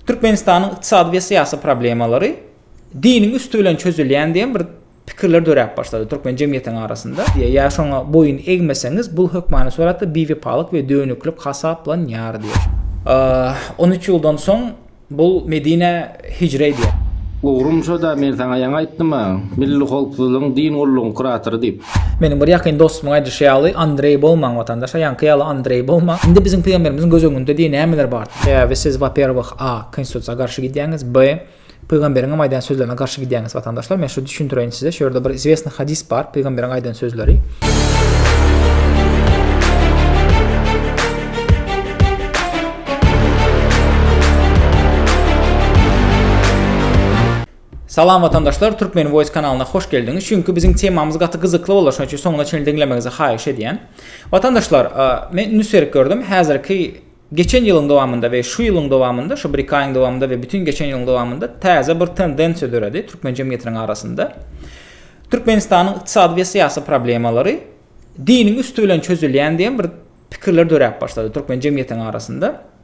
Türkmenistanyň ykdysady we syýasy problemalary diniň üsti bilen çözülýän diýen bir pikirler döräp başlady türkmen jemgyýetiniň arasynda. Diýe, ýa şoňa boýun egmeseňiz, bul hökmany suratda biwepalyk we dönüklik hasaplanýar diýe. On üç ýyldan soň bul Medinä hijre edýär. Ugrum şo-da, men saňa ýaňy aýtdym-a, Milli howpsuzlygyň din gullugyň kuratory diýip. Meniň bir ýakyn dostumyň aýdyşy ýaly, Andreý bolmaň, watandaş, aýaňky ýaly Andreý bolmaň. Indi biziň pygamberimiziň göz öňünde diýe nämeler bardyr? Sebäbi siz, waperwih, a. Konstitusiýa garşy gidýäňiz, b. Pygamberiňem aýdan sözlerine garşy gidýäňiz, watandaşlar. Men şu düşündireýin size, şu ýerde bir izwesni hadis bar, pygamberiň aýdan sözleri. Salam watandaşlar Türkmen voice kanalyna hoş geldiňiz çünki biziň temamyz gaty gyzykly bolar şonuň üçin soňuna çenli diňlemegizi haýyş edýän. Watandaşlar men indi serik gördüm häzirki geçen ýylyň dowamynda we şu ýylyň dowamynda şu bir iki aýyň dowamynda we bütün geçen ýylyň dowamynda täze bir tendensiýa döredi türkmen jemgyýetiniň arasynda. Türkmenistanyň ykdysady we syýasy problemalary diniň üsti bilen çözülýän diýen bir pikirler döräp başlady türkmen jemgyýetiniň arasynda.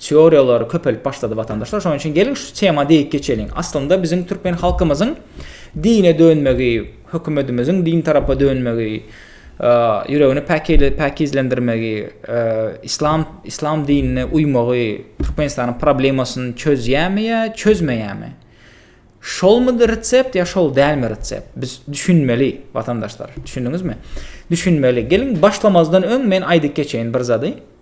Teoriýalar köpelip başlady watandaşlar. Şonuň üçin geliň şu tema degip geçeliň. Aslynda biziň türkmen halkymyzyň dine dönmegi, hökümetimiziň din tarapa dönmegi, ýüregini päkeli päkizlendirmegi, islam islam dinine uýmagy Türkmenistanyň problemasyny çözýämi ýa çözmeýämi? Şolmudy resept ýa şol dälmi resept? Biz düşünmeli watandaşlar. Düşündiňizmi? Düşünmeli. Geliň başlamazdan öň men aýdyp geçeýin bir zady.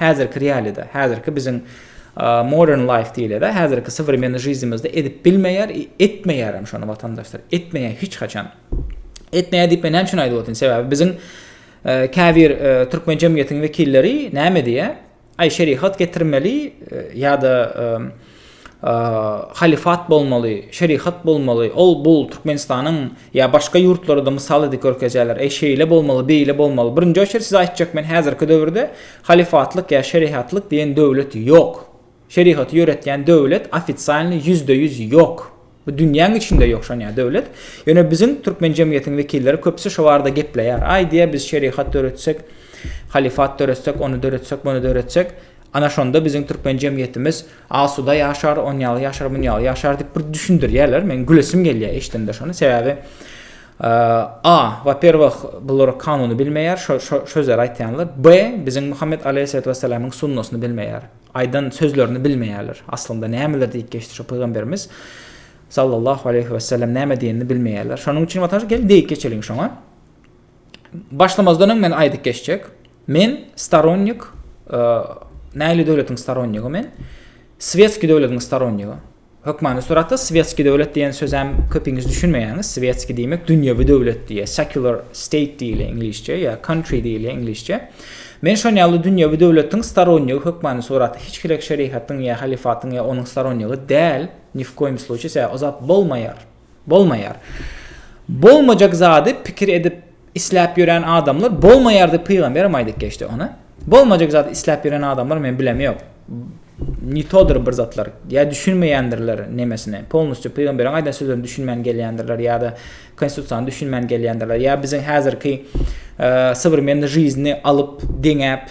Häzirki realýada, häzirki biziň modern life diýilýär-de, häzirki sowremenniý žizimizde edip bilmeýär, etmeýärem şony watandaşlar, etmeýär hiç haçan. Etmeýär diýip men näme üçin aýdyp otyryn? Sebäbi biziň käbir türkmen jemgyýetiniň wekilleri näme diýýär? Aý şerihat getirmeli ýa-da halyfat bolmaly, şerihat bolmaly, ol bul Türkmenistanyň ýa başga ýurtlarada mysal edip görkezýärler, eý şeýle bolmaly, beýle bolmaly. Birinji oçert size aýtjak men häzirki döwürde halyfatlyk ýa şerihatlyk diýen döwlet ýok. Şerihaty ýöretýän döwlet ofisialny ýüzde ýüz ýok. Bu dünýäň içinde ýok şonýa döwlet. Ýöne biziň türkmen jemgyýetiniň wekilleri köpüsi şo barada gepleýär. Aý diýýär biz şerihat döretsek, halifat döretsek, ony döretsek, muny döretsek, ana şonda biziň türkmen jemgyýetimiz asuda ýaşar, onýaly ýaşar, munýaly ýaşar diýip bir düşündirýärler. Meň gülesim gelýär eşdemde şony. Sebäbi A. Waperwah bular kanuny bilmeýär, şo şo sözleri aýtýanlar. B. Biziň Muhammet Aleýhissalat Wassalamyň sunnasyny bilmeýär. Aýdan sözlerini bilmeýärler. Aslynda nämeler diýip geçdi şu pygamberimiz sallallahu aleýhi wesellem näme diýenini bilmeýärler. Şonuň üçin watan gel diýip geçeliň şoňa. Başlamazdan öň men aýdyp geçjek. Men staronnik e, näli döwletiň staronnigy men? Svetski döwletiň staronnigy. Hökmany suratda swetskiý döwlet diýen sözem köpiňiz düşünmeýäňiz. Swetskiý diýmek dünýewi döwlet diýýär. Secular state diýilýär iňlisçe ýa country diýilýär iňlisçe. Men şon ýaly dünýewi döwletiň storonýigi hökmany suraty hiç hili şerihatyň ýa halifatyň ýa onuň storonýigi däl, ni w koýum sluçýe sebäbi o zat bolmaýar. Bolmaýar. Bolmajak zady pikir edip isläp ýören adamlar bolmaýar diýip pygamberem aýdyp geçdi ony. Bolmajak zady isläp ýören adamlar men bilemi ýok. Nitodyr bir zatlar. Ýa düşünmeýändirler nemesini. Polnusçy pygamberiň aýdan sözlerini düşünmän gelýändirler ýa-da konstitusiýany düşünmän gelýändirler. Ýa biziň häzirki e, sowremenni jizni alyp, deňäp,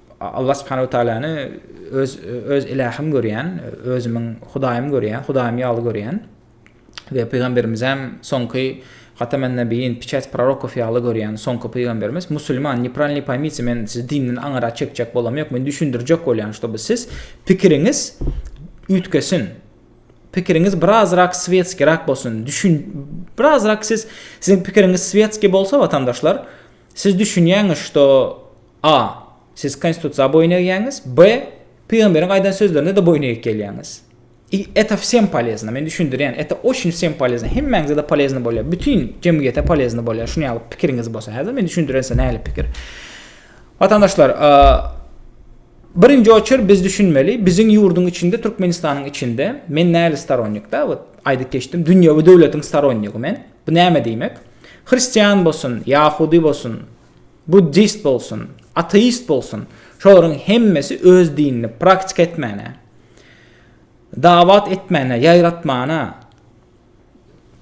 Allah subhanahu we taalany öz öz ilahym görýän, özümiň Hudaýym görýän, Hudaýym ýaly görýän we pygamberimizem soňky Hatamen Nabiyin, Piçäç prorokow ýaly görýän soňky pygamberimiz musulman, nepralny poýmitsy men sizi dinden aňyra çekjek bolam ýok, men düşündirjek bolýan ştoby siz pikiriňiz üýtgesin. Pikiriňiz birazrak svetskirak bolsun. Düşün birazrak siz siziň pikiriňiz svetski bolsa watandaşlar, siz düşünýäňiz şto A. Siz Konstitusiýa boýun egýäňiz. B. Pygamberiň aýdan sözlerine-de boýun egip gelýäňiz. I. Eta wsem polezno, men düşündirýän, eta oçin wsem polezno, hemmäňize-de polezno bolýar, bütin jemgyýete polezno bolýar, şuny ýaly pikiriňiz bolsa. Häzir men düşündirense nähili pikir. Watandaşlar, birinji oçer biz düşünmeli, biziň ýurduň içinde, Türkmenistanyň içinde, men nähili storonnikda, wot, aýdyp geçdim, dünýewi döwletiň storonnigy men. Bu näme diýmek? Hristian bolsun, ýahudy bolsun, Buddist bolsun, ateist bolsun, şolaryň hemmesi öz dinini praktika etmäne, dawat etmäne, ýaýratmana,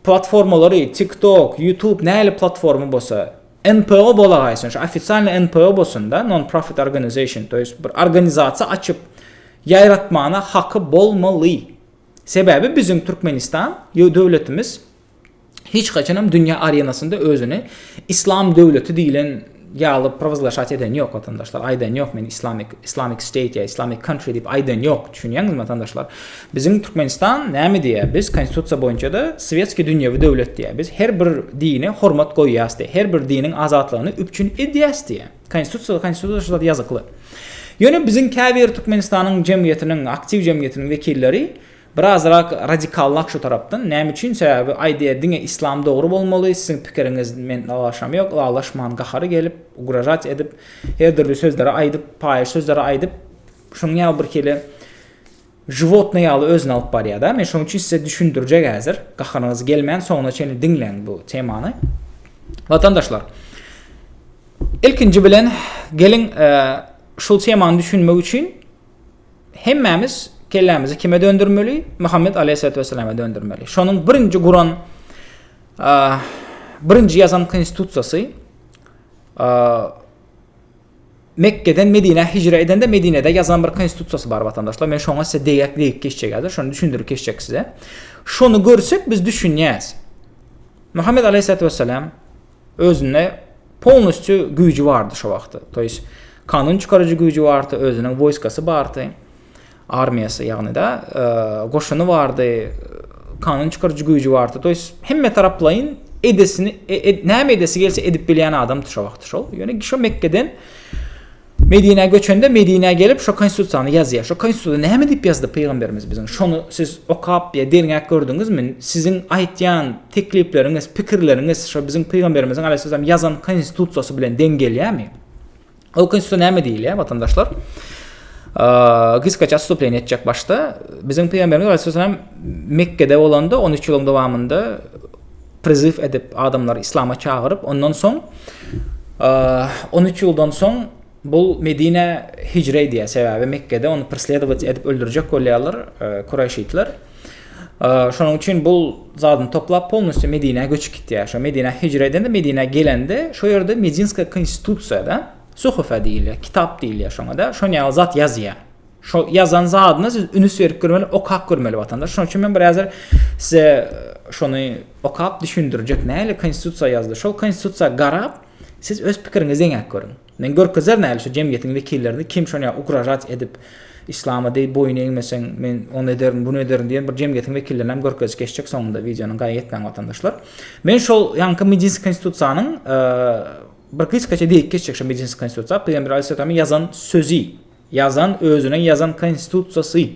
platformalary, TikTok, YouTube näli platforma bolsa, NPO bolagaýsyn, şu ofisialny NPO bolsun-da, non-profit organization, to ýest bir organizasiýa açyp, ýaýratmana haky bolmaly. Sebäbi biziň Türkmenistan, ýo döwletimiz, hiç haçanam dünýä arenasynda özüni islam döwleti diýilen ýaly prowazlaşat eden ýok watandaşlar aýdan ýok men islamik islamik state ýa islamik country diýip aýdan ýok düşünýäňizmi watandaşlar biziň türkmenistan näme diýýär biz konstitusiýa boýunça da swetskiý dünýewi döwlet diýýär biz her bir dine hormat goýýas diýýär her bir diniň azatlygyny üpjün edýäs diýýär konstitusiýa konstitusiýada ýazykly ýöne biziň käbir türkmenistanyň jemgyýetiniň aktiw jemgyýetiniň wekilleri Birazrak radikalnak şu tarapdan, näme üçin sebäbi aýdýa diňe islam dogry bolmaly, siziň pikiriňiz men ylalaşam ýok, ylalaşman gahary gelip, ugražat edip, her dürli sözleri aýdyp, paýyş sözleri aýdyp, şunuň ýaly birkeli žiwotnyý ýaly özüni alyp barýa da, men şonuň üçin size düşündirjek häzir, gaharyňyz gelmän soňuna çenli diňleň bu temany. Watandaşlar, ilkinji bilen geliň şul temany düşünmek üçin, Hemmämiz kellämizi kime döndürmeli? Muhammed aleyhissalatu vesselama döndürmeli. Şonuň birinji guran birinji ýazan konstitusiýasy Mekke'den Medine hicre edende Medine'de yazan bir konstitusiýasy bar vatandaşlar. Men şoňa size deýäk deýip geçjek häzir. Şony düşündirip geçjek size. Şony görsek biz düşünýäs. Muhammed aleyhissalatu vesselam özünde polnusçu güýji bardy şo wagty to ýes kanun çykaryjy güýji bardy özüniň woýskasy bardy armiýasy ýagny da goşuny bardy kanun çykaryjy güýji bardy to ýes hemme taraplaýyn edesini e, e, näme edesi gelse edip bilýän adamdy şo wagty şol ýöne şo mekkeden Medinä göçende Medinä gelip şo konstitusiýany ýazýa. Şo konstitusiýada näme diýip ýazdy pygamberimiz biziň? Şony siz okap ýa derňäp gördüňizmi? Siziň aýtýan teklipleriňiz, pikirleriňiz şo biziň pygamberimiziň alaýhyssalam ýazan konstitusiýasy bilen deň gelýämi? Ol konstitusiýa näme diýilýä watandaşlar? Gysgaça atstupleniýa etjek başda biziň pygamberimiz alaýhyssalam Mekgede bolanda on üç ýylyň dowamynda priziw edip, adamlary islama çagyryp, ondan soň 13 ýyldan soň bu Medinä hijre edýär, sebäbi Mekgede ony presledowat edip öldürjek bolýarlar kuraýşitler. Şonuň üçin bu zadyny toplap polnusty Medinä göçüp gitýär. Şo Medinä hijre edende Medinä gelende şo ýerde Medinska konstitusiýada suhufa diýilýär, kitap diýilýär şoňa-da, şoň ýaly zat ýazýar. Şo ýazan zadyna siz ünüs berip görmeli, okap görmeli watandaş. Şonuň üçin men bir häzir size şony okap düşündirjek. Näle konstitusiýa ýazdy. Şol konstitusiýa garap, siz öz pikiriňizi deňäp görüň. Men görkezer näle şu jemgyýetiň wekillerini kim şony ugražat edip islama deý boýun egmeseň men ony ederin bunu ederin diýen bir jemgyýetiň wekillerini hem görkezip geçjek soňunda wideonyň gaýa etmäň watandaşlar. Men şol ýaňky Medinskiý konstitusiýanyň bir gysgaça diýip geçjek şu Medinskiý konstitusiýa Pygamber Aleyhisselam ýazan sözi Ýazan özüniň ýazan konstitusiýasy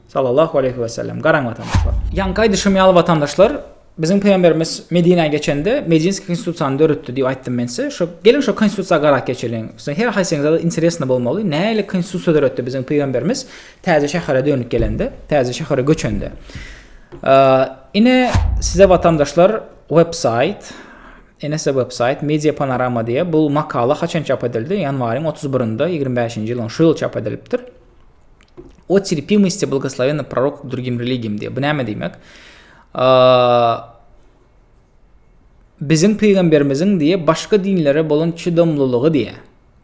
Sallallahu aleýhi we sellem garaň watandaşlar. Ýaňky aýdyşym ýaly watandaşlar biziň pygamberimiz Medinä geçende Medinski konstitusiýany döretdi diýip aýtdym men size. Şo geliň şo konstitusiýa garap geçeliň. Siziň her haýsyňyzada interesno bolmaly nähili konstitusiýa döretdi biziň pygamberimiz täze şähere dönüp gelende, täze şähere göçende. Ine size watandaşlar websaýt. Enese websaýt Media Panorama diýýär. Bu makala haçan çap edildi? Ýanwaryň otuz birinde, ýigrimi bäşinji ýylyň şu ýyl çap edilipdir. O terpimosty blagoslowennýi prorok drugim religim diýýär. Bu näme diýmek? Biziň pygamberimiziň diýýär, başga dinlere bolan çydamlylygy diýýär.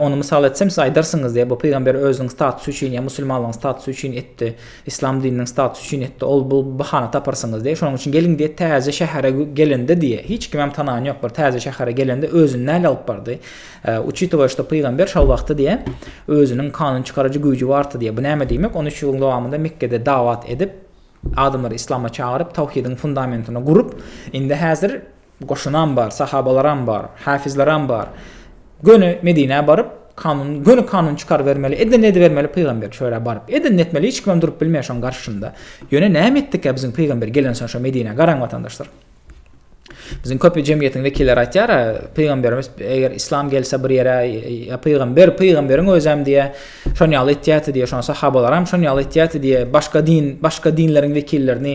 Ony mysal etsem, siz aýdarsyňyz, diýýär, bu pygamber özüniň statusy üçin ýa musulmanlygyň statusy üçin etdi, yslam dininiň statusy üçin etdi, ol bu bahana taparsyňyz, diýýär. Şonuň üçin geliň, diýýär, täze şähere gelende, diýýär, hiç kimem tanaýan ýok, bir täze şähere gelende özüni näl alyp bardy? Uçitowa şto pygamber şol wagty, diýýär, özüniň kanun çykaryjy güýji bardy, diýýär. Bu näme diýmek? On üç ýylyň dowamynda Mekgede dawat edip, adamlary yslama çagyryp, tawhidiň fundamentini gurup, indi häzir Goşunam bar, sahabalaram bar, häfizleram bar. Göni Medinä baryp, kanun, göni kanun çykarybermeli, edenini edibermeli pygamber şöyle baryp. Edenini etmeli, hiç kimem durup bilmeýär şoň garşysynda. Ýöne näme etdikä biziň pygamber gelensoň şo Medinä, garaň watandaşlar. Biziň köp jemgyýetiň wekilleri aýtýar-a, pygamberimiz eger islam gelse bir ýere, ýa pygamber, pygamberiň özem diýe, şon ýaly etýärdi diýe, şon sahabalaram şon ýaly etýärdi diýe, başga din, başga dinleriň wekillerini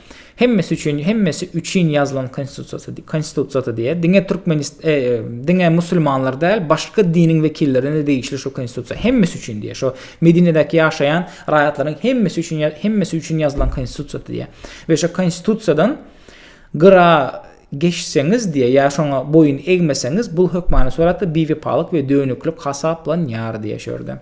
Hemmesi üçin, hemmesi üçin ýazylan konstitusiýasy, konstitusiýasy diýýär. Diňe türkmenist, e, e, diňe musulmanlar däl, başga diniň wekillerine de degişli şu konstitusiýa. Hemmesi üçin diýýär. Şu Medinedäki ýaşaýan raýatlaryň hemmesi üçin, hemmesi üçin ýazylan konstitusiýasy diýýär. We şu konstitusiýadan gyra geçseňiz diýýär, ýa şoňa boýun egmeseňiz, bu hökmany suratda biwepalyk we dönüklik hasaplanýar diýýär şu ýerde.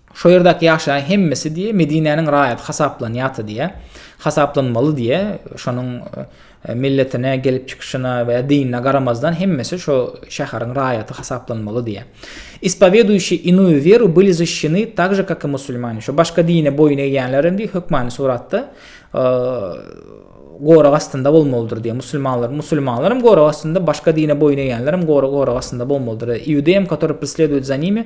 Şo ýerdäki ýaşaýan hemmesi diýýär, Medinäniň raýaty hasaplanýarty diýýär. Hasaplanmaly diýýär. Şonuň milletine, gelip çykyşyna we dinine garamazdan hemmesi şo şäheriň raýaty hasaplanmaly diýýär. Ispoweduýşi inuýu weru byli zişşeni tak je kak i musulmani. Şo başga dine boýun egýänler hem diýýär, hökmany suratda gorag astynda bolmalydyr diýýär. Musulmanlar, musulmanlar hem gorag astynda, başga dine boýun egýänler hem gorag gorag astynda bolmalydyr. Iudeýam, katory presleduýet za nimi,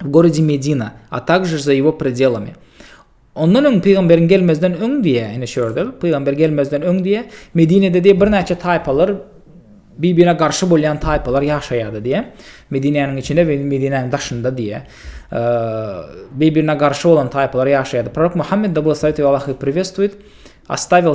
w gorodzie Medina, a takže za ýego predelami. Ondan öň pygamberiň gelmezden öň diýe, ine şu ýerde, pygamber gelmezden öň diýe, Medinede diýe birnäçe taýpalar bibine garşy bolýan taýpalar ýaşaýardy diýe. Medinäniň içinde we Medinäniň daşynda diýe. Bibine garşy bolan taýpalar ýaşaýardy. Prorok Muhammed da bolsa ýa Allahu privestwit, astavil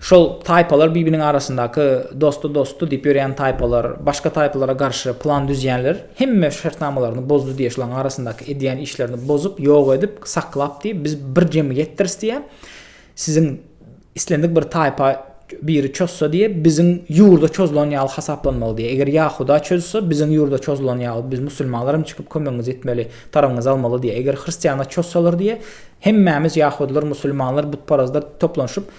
Şol taýpalar bibiniň arasyndaky dosty dosty diýip ýörýän taýpalar, başga taýpalara garşy plan düzýänler hemme şertnamalaryny bozdy diýýär, şolaryň arasyndaky edýän işlerini bozup, ýok edip, saklap diýip, biz bir jemgyýetdiris diýýär. Siziň islendik bir taýpa biri çozsa diýýär, biziň ýurda çozulan ýaly hasaplanmaly diýýär. Eger ýahuda çözse, biziň ýurda çozulan ýaly, biz musulmanlar hem çykyp kömegiňizi etmeli, tarabyňyzy almaly diýýär. Eger hristianlar çozsalar diýýär, hemmämiz ýahudylar, musulmanlar, butparazlar toplanyşyp,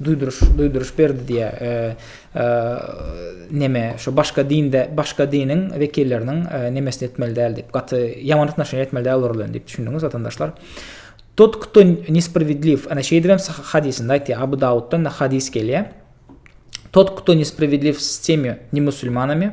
Duýduryş, duýduryş berdi diýýär. Neme, şu başga dinde, başga diniň wekilleriniň nemesini etmeli däl diýip, gaty ýaman atnaşenje etmeli däl olar bilen diýip düşündiňiz watandaşlar. Tut kto nespravedliw, ana şeýdip hem hadisinde aýtýar, Abu Dawuddan da hadis gelýär. Tut kto nespravedliw s temi nemusulmanami,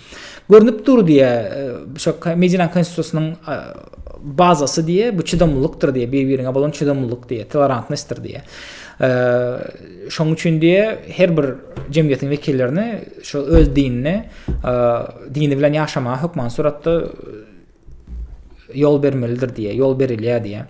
Görnüp dur diýýär, şo Medinanyň Konstitusiýasynyň bazasy diýýär, bu çydamlylykdyr diýýär, bir-biriňe bolan çydamlylyk diýýär, tolerantnostdyr diýýär. Şonuň üçin diýýär, her bir jemgyýetiň wekillerini şo öz dinine, dini bilen ýaşamaga hökman suratda ýol bermelidir diýýär, ýol berilýär diýýär.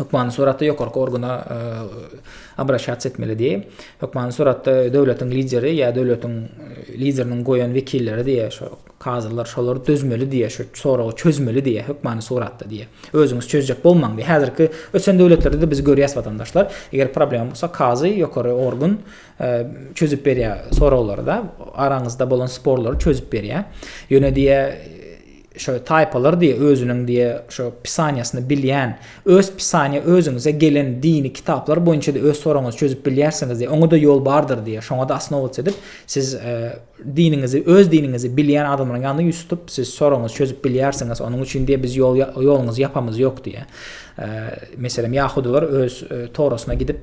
hökmany suratda ýokarky organa e, obraşasiýa etmeli diýip, hökmany suratda döwletiň lideri ýa döwletiň e, lideriniň goýan wekilleri diýip, şo kazylar şolar dözmeli diýip, şu soragy çözmeli diýip, hökmany suratda diýip. Özüňiz çözjek bolmaň diýip. Häzirki ösen döwletlerde de biz görýäs watandaşlar, eger problem bolsa kazy ýokary organ e, çözüp berýär soraglary da, araňyzda bolan sporlary çözüp berýär. Ýöne diýip Şo taýpalar diýe özüniň diýe şo pisaniýasyny bilýän, öz pisaniýa özüňize gelen dini kitaplar boýunça-da öz soragyňyzy çözüp bilýärsiňiz diýe, oňa-da ýol bardyr diýe, şoňa-da osnowac edip, siz diniňizi, öz diniňizi bilýän adamlaryň ýanynda ýüz tutup, siz soragyňyzy çözüp bilýärsiňiz, onuň üçin diýe biz ýol, ýoluňyzy ýapamyz ýok diýe. Meselem, ýahudylar öz Torasyna gidip,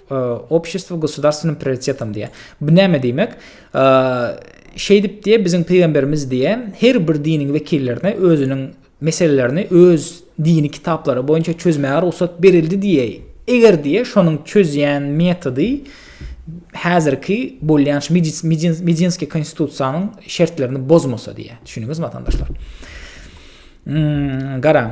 Obşestwo gosudarstweniň prioritetam diýýär. Bu näme diýmek? Şeýdip diýýär, biziň pygamberimiz diýýär, her bir diniň wekillerine özüniň meselelerini öz dini kitaplary boýunça çözmäge rugsat berildi diýýär. Eger diýýär, şonuň çözýän metody häzirki bolýan şu medinski konstitusiýanyň şertlerini bozmasa diýýär. Düşündiňizmi watandaşlar? Hmm, garaň.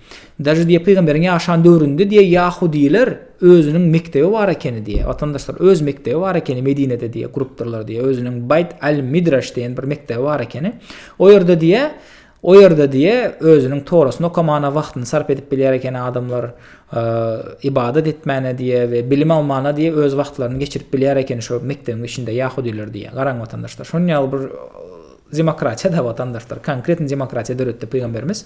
Daže diýýär pygamberiň ýaşan döwründe diýýär ýahudylar özüniň mekdebi bar ekeni diýýär watandaşlar öz mekdebi bar ekeni medinede diýýär gurupdyrlar diýýär özüniň baýt al midraş diýen bir mekdebi bar ekeni o ýerde diýýär o ýerde diýe özüniň torasyny okamana wagtyny sarp edip bilýär eken adamlar e, ibadat etmäne diýe we bilim almana diýe öz wagtlaryny geçirip bilýär eken şo mekdebiň içinde ýahudylar diýe garaň watandaşlar şonuň ýaly bir e, demokratiýa da watandaşlar konkretny demokratiýa döretdi pygamberimiz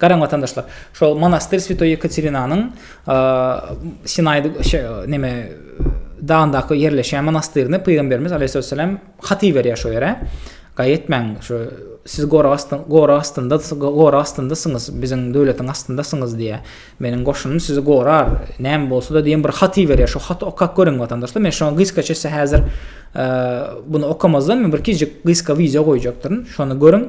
Garaň watandaşlar, şol monastyr Swetoý Ýekaterinanyň Sinaýda şe neme dagyndaky ýerleşýän monastyryny pygamberimiz Aleýhissalam hat iberýär şo ýere. Gaý etmäň, şo siz gorag astyn, gorag astynda, gorag astyndasyňyz, biziň döwletiň astyndasyňyz diýýär. Meniň goşunym sizi gorar, näme bolsa-da diýen bir hat iberýär. Şo haty okap görüň watandaşlar. Men şoňa gysgaça size häzir muny okamazdan men bir kiçijik gysga wideo goýjakdyryn. Şony görüň.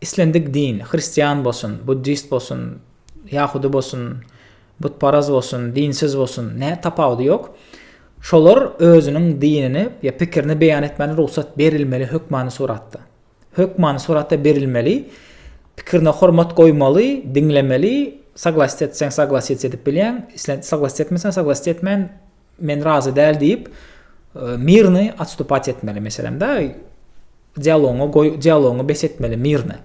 Islendik din, hristian bolsun, buddist bolsun, ýahudy bolsun, butparaz bolsun, dinsiz bolsun, nä tapawudy ýok. Şolar özüniň dinini ýa pikirini beýan etmäne rugsat berilmeli hökmany suratda. Hökmany suratda berilmeli, pikirine hormat goýmaly, diňlemeli, saglasite etseň saglasite edip bilýäň, islen saglasite etmeseň saglasite etmän Men razy däl diýip, mirny atstupat etmeli meselem da. Dialogyňy goý, dialogyňy bes etmeli mirny.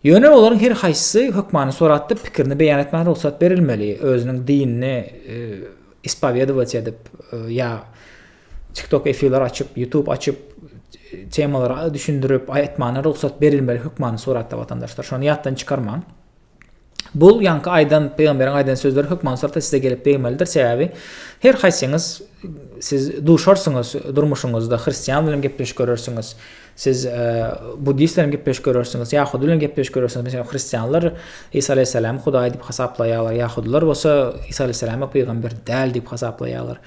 Ýöne olaryň her haýsysy hökmany suratda pikirini beýan etmäge rugsat berilmeli. Özüniň dinini e, ispowedować edip e, ýa TikTok efirler açyp, YouTube açyp temalary düşündirip aýtmagyna rugsat berilmeli hökmany suratda watandaşlar. Şony ýatdan çykarmaň. Bu ýaňky aýdan pygamberiň aýdan sözleri hökman surata size gelip degmelidir, sebäbi her haýsyňyz siz duşarsyňyz durmuşyňyzda hristian bilen gepleşik görersiňiz, siz e, buddist bilen gepleşik görersiňiz, ýahudy bilen gepleşik görersiňiz. Meselem, hristianlar Isa aleyhissalamy hudaý diýip hasaplaýarlar, ýahudylar bolsa Isa aleyhissalamy pygamber däl diýip hasaplaýarlar.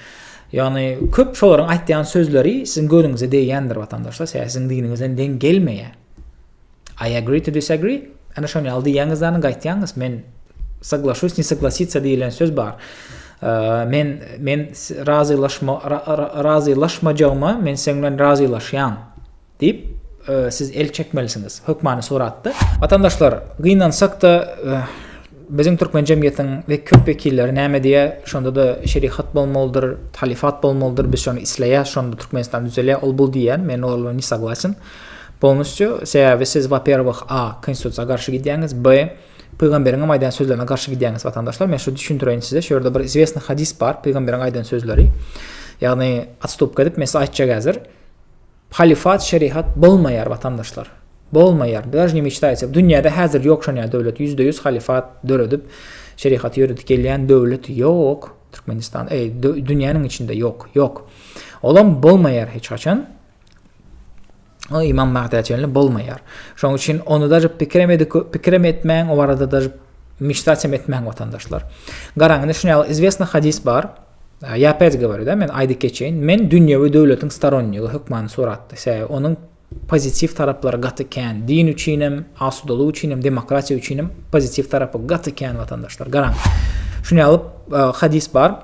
Ýagny köp şolaryň aýtýan sözleri siziň gözüňize degýändir watandaşlar, sebäbi siziň diniňizden deň gelmeýär. I agree to disagree, ana şony ýaly diýýäňiz dany gaýtýaňyz, men soglaşuýs ne soglasica diýilen söz bar. Men men razylaşma razylaşmajagyma men seň bilen razylaşýan diýip e, siz el çekmelisiňiz hökmany suratda. Watandaşlar, gynansak-da e, biziň türkmen jemgyýetiň we köp wekilleri näme diýýär? Şonda da şerihat bolmalydyr, talifat bolmalydyr, biz şony isleýäs, şonda Türkmenistan düzelýär, ol bul diýýär, men ol bilen ne saglaçyn. Polnusçu, sebäbi siz waperwih a. Konstitusiýa garşy gidýäňiz, b. Pygamberiňem aýdan sözlerine garşy gidýäňiz watandaşlar, men şu düşündireýin size, şu ýerde bir izwesni hadis bar, pygamberiň aýdan sözleri, ýagny atstupka edip men size aýtjak häzir, halifat şerihat bolmaýar watandaşlar, bolmaýar, daž ne meçtaýtsa, dünýäde häzir ýok şonýa döwlet, ýüzde ýüz halifat döredip, şerihaty ýöredip gelýän döwlet ýok, Türkmenistan, eý, dünýäniň içinde ýok, ýok, olam bolmaýar hiç haçan. O imam Magda çenli bolmaýar. Şoň üçin ony da pikrem edip pikrem etmäň, o arada da mişsaçem etmäň watandaşlar. Garaň, indi şuny ýaly izwesna hadis bar. Ýa pet govoru men aýdyp geçeýin. Men dünýewi döwletiň staronnygy hökmany suratda. Sebäbi onuň pozitiw taraplary gaty kän. Din üçin hem, asudalyk üçin hem, demokratiýa üçin hem pozitiw tarapy gaty kän watandaşlar. Garaň. Şuny ýaly e, hadis bar.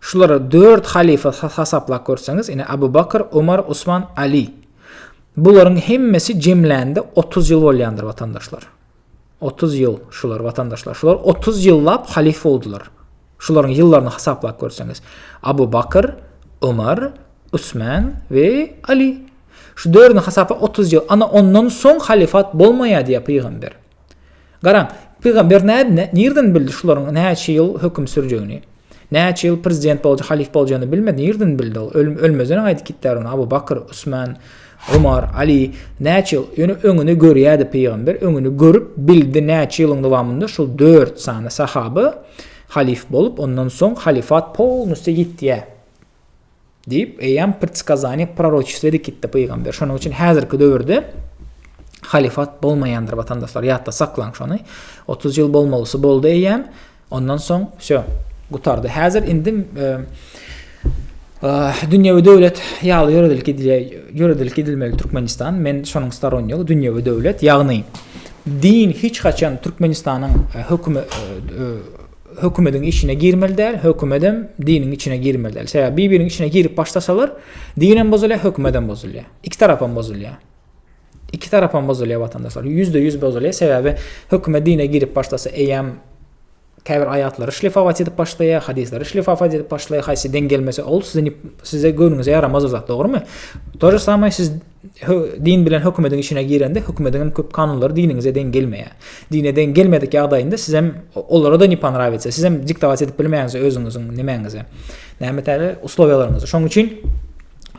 Şulary dört halyfa hasaplap görseňiz, ine, Abu Bakr, Omar, Osman, Ali. Bularyň hemmesi jemlände otuz ýyl bolýandyr, watandaşlar. Otuz ýyl şular, watandaşlar. Şular otuz ýyllap halyfa boldular. Şularyň ýyllaryny hasaplap görseňiz. Abu Bakr, Omar, Osman we Ali. Şu dördüni hasaplap otuz ýyl. Ana ondan soň halyfat bolmaýar diýýär pygamber. Garaň, pygamber nädine, nirden bildi şularyň näçe ýyl höküm sürjegini? Näçe ýyl prezident bolja, halyf boljagyny bilmedi, nirden bildi ol? Öl, ölmezden aýdyp gitdär ony Abu Bakr, Usman, Umar, Ali, näçe ýyl, ýöne öňüni görýärdi pygamber, öňüni görüp bildi, näçe ýylyň dowamynda şul dört sany sahaba halyf bolup, ondan soň halyfat polnusty ýitýär. Diýip, eýýäm predskazaniýe proroçestwedi kitdi pygamber. Şonuň üçin häzirki döwürde halifat bolmaýandyr watandaşlar. Ýatda saklaň şony. 30 ýyl bolmalysy boldy eýýäm. Ondan soň şo gutardy. Häzir indi e, e, dünýewi döwlet ýaly ýöredilip gidilýär. Ýöredilip gidilmeli Türkmenistan. Men şonuň staron ýok. Dünýewi döwlet, ýagny din hiç haçan Türkmenistanyň e, hökümi e, hökümediň içine girmeli däl, hökümedem diniň içine girmeli däl. Sebäbi bir-biriniň içine girip başlasalar, dinem bozulýar, hökümedem bozulýar. Iki tarapam bozulýar. Iki tarapam bozulýar watandaşlar. Ýüzde ýüz bozulýar. Sebäbi hökümet dine girip başlasa, eýýäm käbir aýatlary şlifawat edip başlaýar, hadyslary şlifawat edip başlaýar. Haýsy deň gelmese, ol size size göwnüňize ýaramaz zat, dogrumy? To же самое siz din bilen hökümediň işine girende hökümediň hem köp kanunlary diniňize deň gelmeýär. Dine deň gelmedik ýagdaýynda siz hem olara da ne ponrawiýse, siz hem diktować edip bilmeýäňiz özüňiziň nemäňize. Näme täze uslowiýalaryňyzy. Şoň üçin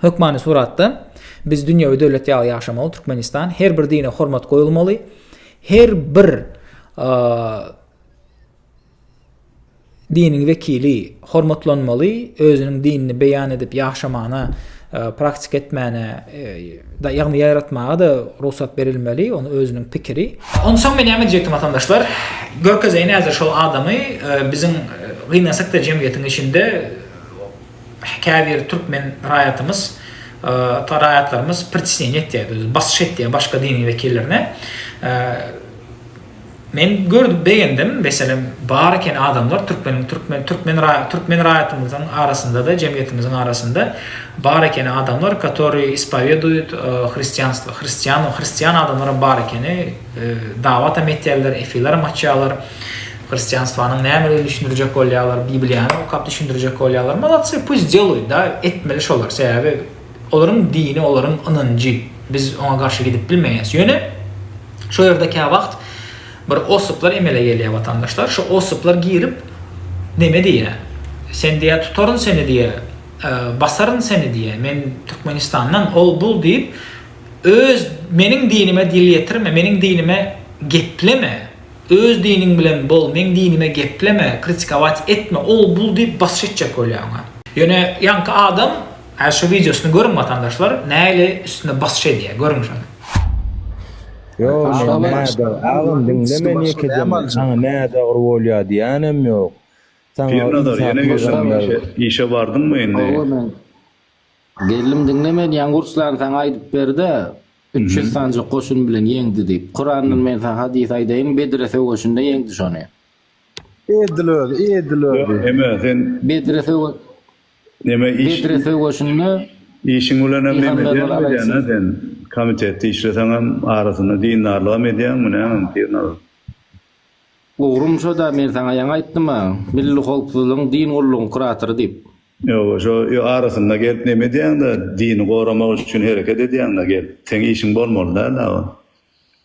hökmany suratda biz dünýewi döwlet ýaly ýaşamaly Türkmenistan her bir dine hormat goýulmaly. Her bir Diniň wekili hormatlanmaly, özüniň dinini beýan edip ýaşamagyna, praktika etmäne, ýagny ýaýratmaga-da rugsat berilmeli, ony özüniň pikiri. Onsoň men näme diýjekdim watandaşlar, görkezeýin häzir şol adamy, biziň gynansak-da jemgyýetiň içinde käbir türkmen raýatymyz, raýatlarymyz pritisneniýa etýär, basyş etýär başga diniň wekillerine. Men gördüm begendim meselem bar eken adamlar türkmeniň türkmen türkmen türkmen raýatymyzyň arasyndada jemgyýetimiziň arasynda bar eken adamlar katori ispaweduýut hristianstwo hristian hristian adamlaram bar ekeni dawatam etýärler efileram açýarlar hristianstwanyň nämedigini düşündirjek bolýarlar bibliýany okap düşündirjek bolýarlar molodsy puys deluýt da etmeli şolar sebäbi Olaryň dini, olaryň ynanjy. Biz oňa garşy gidip bilmeýäs. Ýöne şo ýerde käwagt bir ossuplar emele gelýär watandaşlar. Şo ossuplar girip neme diýýär. Sen diýýär tutaryn seni diýýär. Basaryn seni diýýär. Men Türkmenistandan ol bul diýip öz meniň dinime dil ýetirme, meniň dinime gepleme, öz diniň bilen bol, meň dinime gepleme, kritikować etme, ol bul diýip basyş etjek bolýar oňa. Ýöne ýaňky adam Hä şu wideosyny görüň watandaşlar nähili üstüne basyş edýär görüň şony. Ýok men nädogry agam diňle meni ýekeje saňa nädogry bolýar diýýänem ýok saňa Pirnazar ýene geldiňmi işe bardyňmy indi. Hawa men geldim diňle meni ýaňy Ruslan saňa aýdyp berde üç ýüz sanjak goşun bilen ýeňdi diýip Kurandan men saňa hadys aýdaýyn Bedre söweşinde ýeňdi şony. Edil özi, edil özi. Eme sen Bedre söwe neme iş Bedre söweşinde işiň bilen hem neme Pygamberler edýän edýän ha aleyhisselam. sen. Komitetde işleseň hem arasynda dindarlygam edýäňmi nämem Pirnazar. Ugrum şoda men saňa ýaňy aýtdym-a, Milli howpsuzlygyň din gullugyň kuratory diýip. Ýoga şo ýo arasynda gelip neme edýäňdä dini goramak üçin hereket edýäňdä gelip. Seň işiň bolmaly däl-ä o.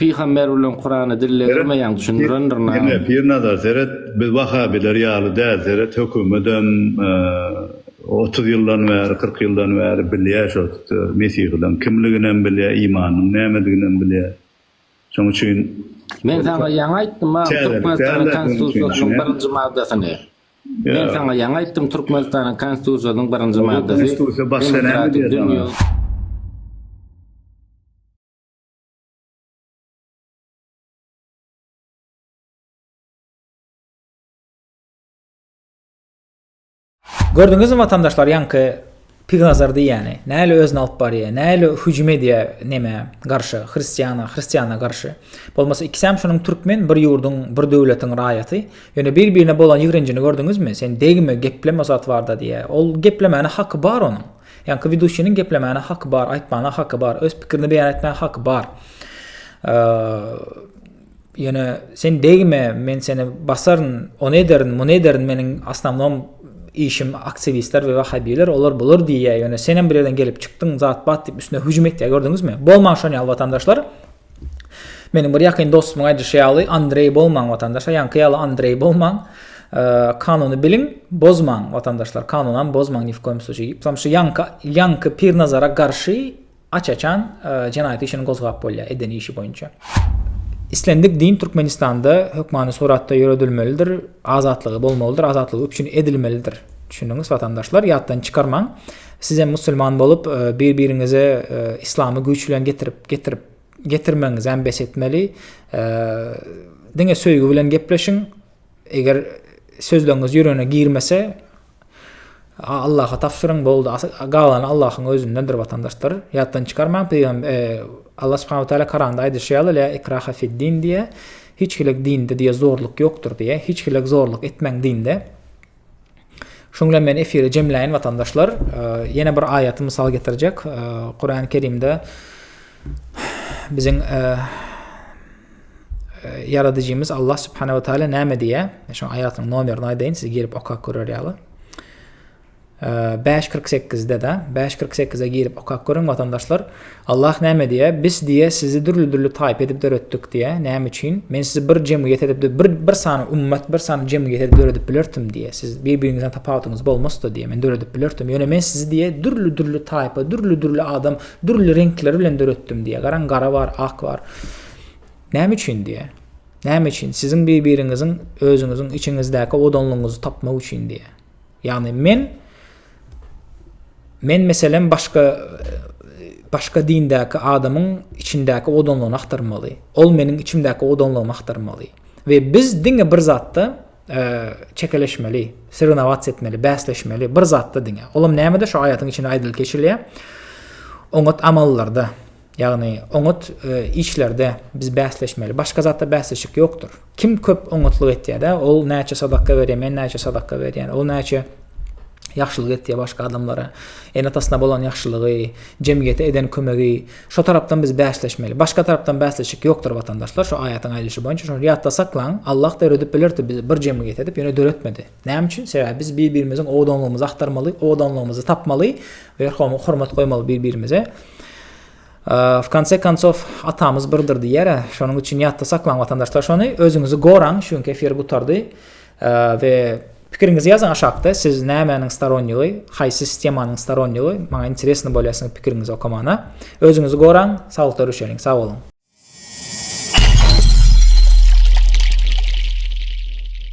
Pygamber bilen Kurany dillegirmeýäň düşündirendirnam. Diňle Pirnazar seret biz wahabiler ýaly däl seret hökümetem otuz ýyldan bäri kyrk ýyldan bäri bilýä şo mesihileň kimliginem bilýä imanynyň nämediginem bilýä şoň üçin Men saňa ýaňy aýtdym a Türkmenistanyň konstitusiýasynyň birinji maddasyny Men saňa ýaňy aýtdym Türkmenistanyň konstitusiýasynyň birinji maddasy demokratik dünýä Gördüňizmi watandaşlar ýaňky Pignazar diýýäni, näle özüni alyp barýa, näle hüjüm edýä nämä garşy, hristiýana, hristiýana garşy. Bolmasa ikisem şunuň türkmen bir ýurduň, bir döwletiň raýaty. Ýöne bir-birine bolan ýigrenjini gördüňizmi? Sen degme, gepleme o zat barda diýýä. Ol geplemäne haky bar onuň. Ýaňky widuşiniň geplemäne haky bar, aýtmana haky bar, öz pikirini beýan etmäne haky bar. Ýöne sen degme, men seni basaryn, ony ederin, muny ederin, meniň asnamnom işim aktiwistler we wahabiler, olar bular diýýär, ýöne senem bir ýerden gelip çykdyň, zat-bat diýip üstüne hüjüm etýär, gördüňizmi? Bolmaň şony al watandaşlar. Meniň bir ýakyn dostumyň aýdyşy ýaly, Andreý bolmaň watandaşlar, ýaňky ýaly Andreý bolmaň. Kanuny biliň, bozmaň watandaşlar, kanunam bozmaň ni w koýum sluçaý diýip, şu ýaňky ýaňky Pirnazara garşy aç-açan jenaýat işini gozgap bolýar eden işi boýunça. Islendik din Türkmenistanda hökmany suratda ýöredilmelidir, azatlygy bolmalydyr, azatlygy üpjün edilmelidir. Düşündiňiz watandaşlar, ýatdan çykarmaň. Sizem musulman bolup bir biriňize islamy güýç bilen getirip getirip getirmegiňizem bes etmeli. Diňe söýgi bilen gepleşiň. Eger sözleriňiz ýüregine girmese Allaha tabşyryň boldy. Galany Allahyň özündendir watandaşlar. Ýatdan çykarmaň peýgam Allah subhanahu taala Koranda aýdyşy ýaly la ikraha fid din diýe. Hiç hilik dinde diýe zorluk ýokdur diýe. Hiç hilik zorluk etmeň dinde. Şuň bilen men efiri jemläýin watandaşlar. Ýene bir aýaty mysal getirjek. Kur'an-ı Kerimde biziň ýaradyjymyz Allah subhanahu wa taala näme diýýär? Şu aýatyň nomerini aýdaýyn, siz girip okap görer ýaly. 5.48-de de, 5.48-e girip okap görüň watandaşlar. Allah näme diýýär? Biz diýýär, sizi dürli-dürli taýpa edip döretdik diýýär. Näme üçin? Men sizi bir jemgyýet edip, bir, bir sany ümmet, bir sany jemgyýet edip döredip bilerdim diýýär. Siz bir-biriňizden tapawudyňyz bolmasdy diýýär. Men döredip bilerdim. Ýöne men sizi diýýär, dürli-dürli taýpa, dürli-dürli adam, dürli reňkleri bilen döretdim diýýär. Garaň, gara bar, ak bar. Näme üçin diýýär? Näme üçin? Siziň bir-biriňiziň özüňiziň içiňizdäki odanlygyňyzy tapmak üçin diýýär. Ýagny men men meselem başga başga dindäki adamyň içindäki odanlygyny aktarmaly. Ol meniň içimdäki odanlygymy aktarmaly. We biz diňe bir zatda e, çekeleşmeli, sirnowats etmeli, bäsleşmeli, bir zatda diňe. Olam nämede şu aýatyň içinde aýdylyp geçilýär? Oňat amallarda. Ýagny oňat işlerde biz bäsleşmeli. Başga zatda bäsleşik ýokdur. Kim köp oňatlyk etýär-dä, ol näçe sadaka berýär, men näçe sadaka berýän, ol näçe ýagşylyk etýär başga adamlara, ene-atasyna bolan ýagşylygy, jemgyýete eden kömegi, şo tarapdan biz bäsleşmeli. Başga tarapdan bäsleşik ýokdur watandaşlar, şo aýatyň aýdyşy boýunça. Şony ýatda saklaň, Allah döredip bilerdi bizi bir jemgyýet edip, ýöne döretmedi. Näme üçin? Sebäbi biz bir-birimiziň owadanlygymyzy agtarmaly, owadanlygymyzy tapmaly we hormat goýmaly bir-birimize. W konce koncow atamyz birdir diýýär. Şonuň üçin ýatda saklaň watandaşlar şony. Özüňizi goraň. Şu günki efir gutardy. We pikiriňizi ýazyň aşakda. Siz nämäniň storonnigy, haýsy sistemanyň storonnigy? Maňa interesno bolýar siziň pikiriňizi okamana. Özüňizi goraň, saglykda görüşeliň. Sag boluň.